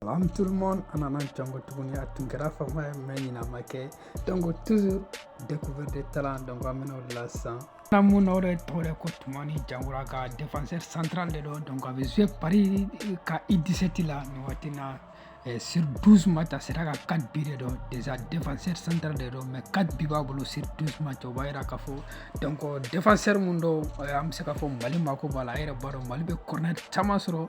Salam tout le monde, an nana ɲɔgɔn tuguni a tun kɛra fama ye, mais il n'a manqué. Donc, toujours découverte de talents, donc an bɛna o de la sisan. N'an bɛ min na o de tɔgɔ de ko Tumani Jaguraga défenseur central de don donc a bɛ jouer Paris ka U17 la nin waati na eh, sur 12 match a sera ka 4 bi de don déjà défenseur central de don mais 4 bi b'a bolo sur 12 match o b'a jira k'a fɔ donc défenseur mun don eh, an bɛ se k'a fɔ Mali mako b'a la a yɛrɛ b'a dɔn Mali bɛ corner caman sɔrɔ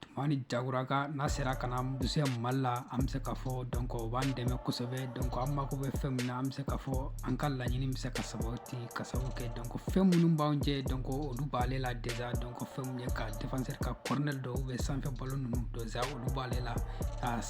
tumani jaguraga n'a sera ka na jouer mali la an bɛ se k'a fɔ donc o b'an dɛmɛ kosɛbɛ donc an mako bɛ fɛn min na an bɛ se k'a fɔ an ka laɲini bɛ se ka sabati ka sabu kɛ donc fɛn minnu b'an jɛ donc olu b'ale la déjà donc fɛn min ye ka défenseur ka corner dɔw bɛ sanfɛ ballon ninnu déjà olu b'ale la a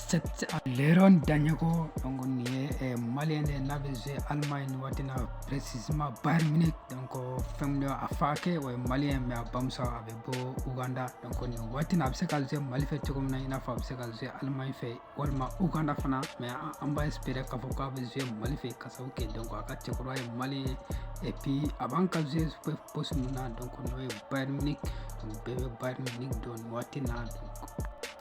lewuran daɲogo donc nin ye eh, malien de n'a bɛ jouer allemagne nin waati na précisément bayern munich donc fɛn min ye a fa kɛ o ye malien mais a bamuso a bɛ bɔ uganda donc nin waati na a bɛ se ka jouer mali fɛ cogo min na i n'a fɔ a bɛ se ka jouer allemagne fɛ walima uganda fana mais an b'a espérer k'a fɔ k'a bɛ jouer mali fɛ ka sabu kɛ donc a ka cɛkɔrɔba ye malien ye et puis a b'an ka jouer poste min na donc n'o ye bayern munich bɛɛ bɛ bayern munich dɔn nin waati na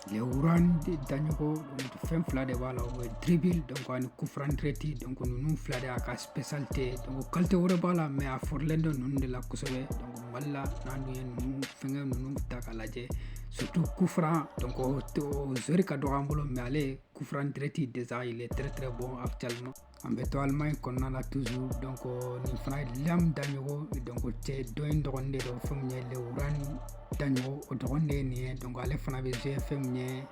lewuran daɲogo fɛn fila de b'a la o ye dribble donc ani coup franc direct donc ninnu fila de y'a ka spécialité donc qualité wɛrɛ b'a la mais a fɔrilen don ninnu de la kosɛbɛ donc Mali la n'an dun ye ninnu fɛngɛ ninnu ta k'a lajɛ surtout coup franc donc o t o joueur ka dɔgɔ an bolo mais ale ye coup franc direct déjà il est très très bon actuellement an bɛ to Allemagne kɔnɔna la toujours donc nin fana ye Liam Daɲogo donc cɛ dɔ in dɔgɔnin de don fɛn min ye Lewuran Daɲogo o dɔgɔnin de ye nin ye donc ale fana bɛ jouer fɛn min ye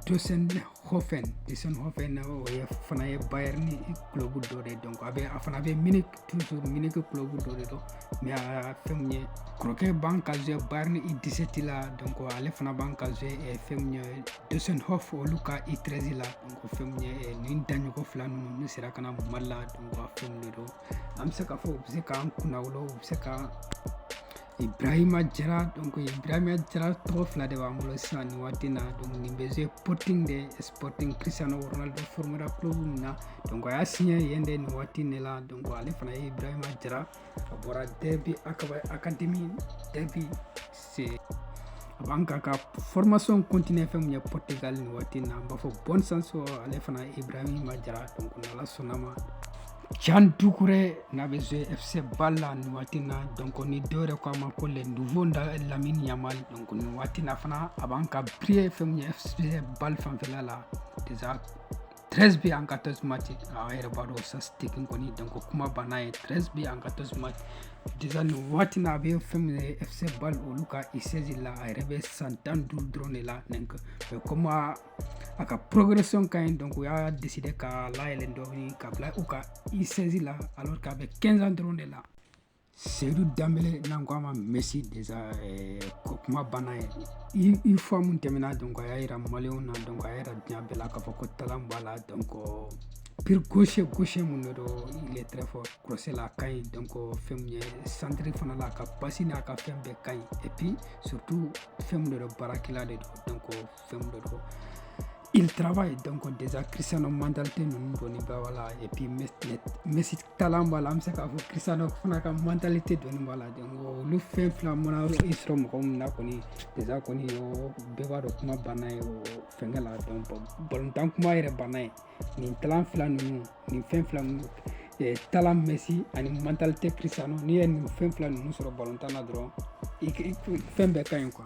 Deisenhofen Deisenhofen o ye fana ye Bayern club dɔ de ye donc a bɛ a fana bɛ Munich toujours munich club dɔ de don mais a fɛn mun ye kɔrɔkɛ b'an ka jouer bayern U17 la donc ale fana b'an ka jouer eh, fɛn mun ye deisenhofen olu ka U13 la donc fɛn mun ye eh, nin daɲogo fila ninnu n'u sera ka na mali la donc a fɛn mun de don an bɛ se k'a fɔ u bɛ se k'an kunnawolo u bɛ se ka Ibrahima Jara donc Ibrahima Jara tɔgɔ fila de b'an bolo sisan nin waati na donc nin bɛ jouer Sporting de Sporting Cristiano Ronaldo formera club min na donc a y'a signé yen de nin waati ne la donc ale fana ye Ibrahima Jara a bɔra Derby Académie Derby c'est a b'an k'a ka formation continuer fɛn mun ye Portugal nin waati na an b'a fɔ bonne chance ale fana ye Ibrahima Jara donc n'Ala sɔnn'a ma Jean Doucouré n'a bɛ jouer FC Bâle la nin waati na donc nin dɔ yɛrɛ ko a ma ko le nouveau a Lamine Yamal donc nin waati na fana a b'an ka briller fɛn min ye FC Bâle fanfɛla la déjà 13 bi en 14 match a yɛrɛ b'a dɔn statistique kɔni donc kuma banna ye 13 bi en 14 match déjà nin waati na a bɛ fɛn min ye FC Bâle olu ka U16 la a yɛrɛ bɛ san tan ni duuru dɔrɔn de la donc comme a ka progression ka ɲi donc u y'a décider k'a layɛlɛn dɔɔni k'a bila u ka U16 la alors k'a bɛ 15 ans dɔrɔn de la seyidu danbele n'an ko a ma Messi déjà eh, ko kuma banna ye i fɔ mun tɛmɛna donc a y'a yira maliyɛnw na donc a y'a yira diɲɛ bɛɛ la k'a fɔ ko talan b'a la donc pied gauche gauche mun de don il est très fort crosse la a ka ɲi donc fɛn min ye centre fana la a ka pasi n'a ka fɛn bɛɛ ka ɲi et puis surtout fɛn mun de don baarakɛla de don donc fɛn dɔ dɔ il travaille donc déjà Cristiano mentalité ninnu dɔɔni b'a b'a la et puis Messi talan b'a la an bɛ se k'a fɔ Cristiano fana ka mentalité dɔɔni b'a la donc olu fɛn fila mana i sɔrɔ mɔgɔ min na kɔni déjà kɔni o bɛɛ b'a dɔn kuma banna ye o fɛnkɛ la donc balontan kuma yɛrɛ banna ye nin talan fila ninnu nin fɛn fila ninnu eh, talan Messi ani mentalité Cristiano n'i ye nin fɛn fila ninnu sɔrɔ balontan na dɔrɔn i fɛn bɛɛ ka ɲi quoi